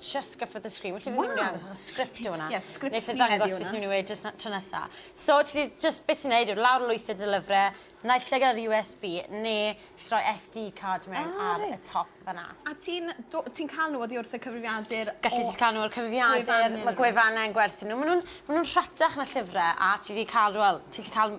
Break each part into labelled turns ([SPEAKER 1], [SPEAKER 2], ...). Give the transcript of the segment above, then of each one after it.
[SPEAKER 1] just go for the screen. Felly wow. fi'n mynd i script o hwnna. Ie, yeah, script ti heddiw
[SPEAKER 2] hwnna. Neu fi'n mynd
[SPEAKER 1] i just na, tro nesa. So, ti just beth ti'n neud, lawr lwyth y dylyfre, naill lle gyda'r USB, neu ti roi SD card mewn ah, ar y top fanna. A ti'n
[SPEAKER 2] ti cael nhw oddi wrth y cyfrifiadur? Gallu ti cael nhw o'r
[SPEAKER 1] cyfrifiadur, mae gwefannau yn gwerthu nhw. Maen nhw'n ma nhw rhatach na llyfrau, a ti wedi cael, well, ti wedi cael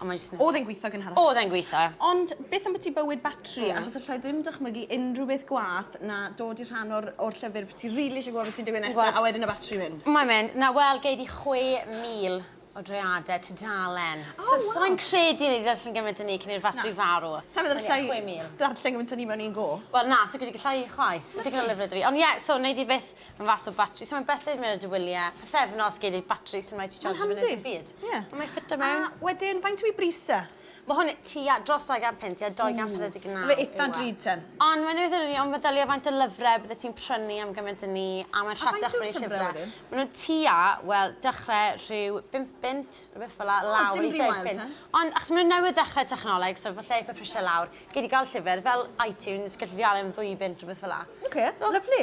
[SPEAKER 1] Ond mae'n jyst yn... Oedd e'n gweithio
[SPEAKER 2] gynharach? Oedd e'n gweithio. Ond
[SPEAKER 1] beth ambyti
[SPEAKER 2] bywyd batri? Hmm. Achos allai ddim dychmygu unrhyw beth gwaeth na dod i rhan o'r o'r llyfr bo' ti rili isie gwbod be' sy'n digwydd nesa... Gwbod. ...a wedyn y batri mynd. Mae'n mynd. Na wel gei
[SPEAKER 1] di chwe mil o dreade tudalen. O waw! So sai'n credu nei di ddarllen gyment â ni cyn i'r fatri farw. Na. Sai'n meddwl allai... Chwe mil.
[SPEAKER 2] ...darllen gyment â ni mewn un go. Wel na, sa fi 'di gallau
[SPEAKER 1] chwaith. Ma'n digon o lyfre 'da fi. Ond ie, so nei di byth Mae'n fath o batri, so mae Bethau yn mynd ar dy wyliau, pythefnos gei di batri sy'n rhaid ti charge yn y byd. Yeah. Ond mae'n ffitio mewn. A wedyn, faint yw i bris
[SPEAKER 2] e? Mae hwn tua
[SPEAKER 1] dros 200 punt, ie, 249 yw e. Mae eitha drud ten.
[SPEAKER 2] Ond mae'n rhywbeth o'n i, ond
[SPEAKER 1] meddylia faint o lyfrau bydde ti'n prynu am gymaint o ni, a mae'n rhatach rhoi llyfrau. A faint yw'r llyfrau wedyn? Mae nhw'n tua, wel, dechrau rhyw 5 punt, rhywbeth fel la, lawr i 10 punt. Ond achos mae nhw'n newydd ddechrau technoleg, so falle eitha prisiau lawr, gei di gael llyfr fel iTunes, gallu di gael e'n ddwy bunt, rhywbeth fel la. Oce, lyfli.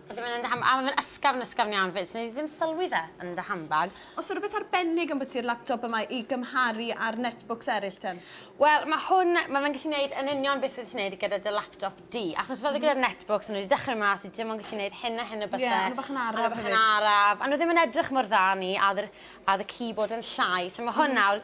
[SPEAKER 2] Dwi ddim yn yn dy handbag. A ma fe'n
[SPEAKER 1] ysgafn ysgafn iawn fyd, so nei di ddim sylwi fe yn dy handbag. O's na rwbeth arbennig
[SPEAKER 2] ambwti'r laptop yma i gymharu â'r netbooks eryll te? Wel ma hwn,
[SPEAKER 1] ma fe'n gallu neud yn union beth wyt ti'n neud gyda dy laptop di. Achos fel gyda'r netbooks o'n nhw wedi dechrau mas i dim ond gallu neud hyn a hyn o bethe. Ie, a nhw bach yn araf hefyd. A nhw bach
[SPEAKER 2] yn araf. A nhw ddim yn
[SPEAKER 1] edrych mor dda a ni a o'dd yr a o'dd y keyboard yn llai. So ma hwn nawr,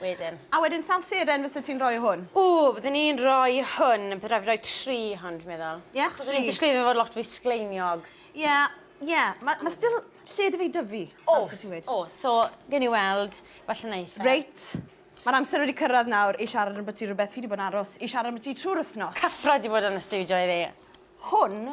[SPEAKER 1] wedyn. A wedyn sawl seren
[SPEAKER 2] fysa ti'n rhoi hwn? Ww, byddwn i'n rhoi
[SPEAKER 1] hwn, bydd rhaid fi roi tri hwn dwi'n meddwl. Ie, yeah, tri. Chos o'n disgwyl
[SPEAKER 2] fod lot fwy
[SPEAKER 1] sgleiniog. Ie, yeah, ie, yeah.
[SPEAKER 2] mae ma still lle dy fi dyfu. O, o, so
[SPEAKER 1] gen i weld, falle wneud. E. Reit. Mae'r
[SPEAKER 2] amser wedi cyrraedd nawr i siarad am bwyty rhywbeth fi wedi bod yn aros i siarad am bwyty trwy'r wythnos. Cyffro wedi bod yn y studio
[SPEAKER 1] iddi. Hwn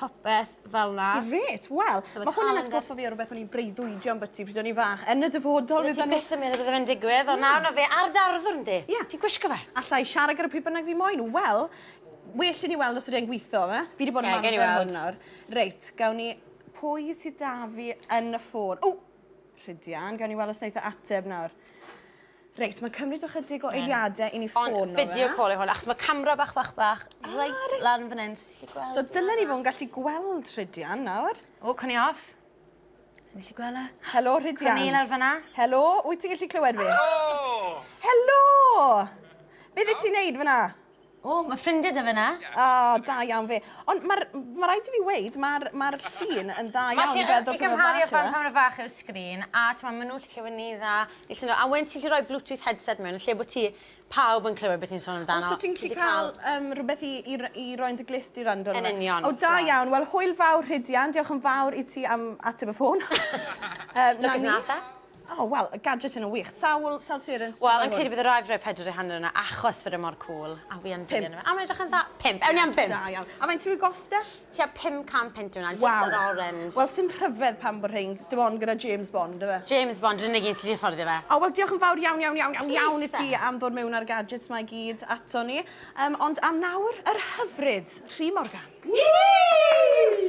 [SPEAKER 1] popeth fel 'na. Grêt! Wel,
[SPEAKER 2] ma' hwn yn atgoffa fi o rwbeth o'n i'n breuddwydio ambyty pryd o'n i'n fach. Yn y dyfodol fyddan n'w... Ti byth yn meddwl bydde fe'n
[SPEAKER 1] digwydd on' nawr ma' fe ar dy arddwrn di. Ie. Ti'n gwisgo fe.
[SPEAKER 2] Alla i
[SPEAKER 1] siarad gyda pwy
[SPEAKER 2] bynnag fi moyn. Wel, well i ni weld os ydi e'n gwitho yfe? Fi 'di bod yn arfer ar hwn nawr. Reit, gawn ni... Pwy sy 'da fi yn y ffôn? O! Rhidian, gawn ni wel' os neith e ateb nawr. Reit, mae'n cymryd ychydig o eiliadau i ni ffôn nhw. Ond video call yw hwn, achos
[SPEAKER 1] mae camera bach, bach, bach, reit
[SPEAKER 2] lan
[SPEAKER 1] fan hyn,
[SPEAKER 2] ti'n gallu gweld? So dylen ni
[SPEAKER 1] fod yn
[SPEAKER 2] gallu gweld
[SPEAKER 1] Rhydian
[SPEAKER 2] nawr. O, cwn i
[SPEAKER 1] off. Ti'n gallu gweld e? Helo, Rhydian. Cwn i
[SPEAKER 2] lawr fanna. Helo,
[SPEAKER 1] wyt ti'n gallu
[SPEAKER 2] clywed fi? Helo!
[SPEAKER 3] Helo!
[SPEAKER 2] Beth i ti'n neud fanna? O, mae ffrindiau
[SPEAKER 1] dy fyna. O, da iawn fi.
[SPEAKER 2] Ond mae ma rhaid i fi weid, mae'r ma llun yn dda iawn i feddwl pan mae fach pan mae
[SPEAKER 1] fach i'r sgrin, a ti'n maen nhw'n lle clywed ni dda. A wedyn ti'n lle rhoi Bluetooth headset mewn, lle bod ti pawb yn clywed beth ti'n sôn amdano. Os ti'n lle cael
[SPEAKER 2] um, rhywbeth i, i, i roi'n dy glist i rando. Yn union. O, da
[SPEAKER 1] iawn. Wel, hwyl
[SPEAKER 2] fawr, Rhydian. Diolch yn fawr i ti am ateb y ffôn. um, Look
[SPEAKER 1] as Natha. O, wel, y gadget
[SPEAKER 2] yna wych. Sawl, sawl sirens? Wel, yn credu bydd y rai fry
[SPEAKER 1] pedr i hanner yna, achos fod e mor cool. A fi yn dilyn yma. A mae'n edrych yn dda. Pimp. Ewn ni am bimp. Da iawn. A mae'n tu i
[SPEAKER 2] gosta? Ti a 500 punt
[SPEAKER 1] yna, just yr orange. Wel, sy'n rhyfedd pan
[SPEAKER 2] bod rhain, dim ond gyda James Bond, yfe? James Bond, yn unig un sy'n
[SPEAKER 1] fforddio fe. O, wel, diolch yn fawr iawn, iawn,
[SPEAKER 2] iawn, iawn, iawn i ti am ddod mewn â'r gadgets mae gyd ato ni. Um, ond am nawr, yr hyfryd, Rhi Morgan. Whee!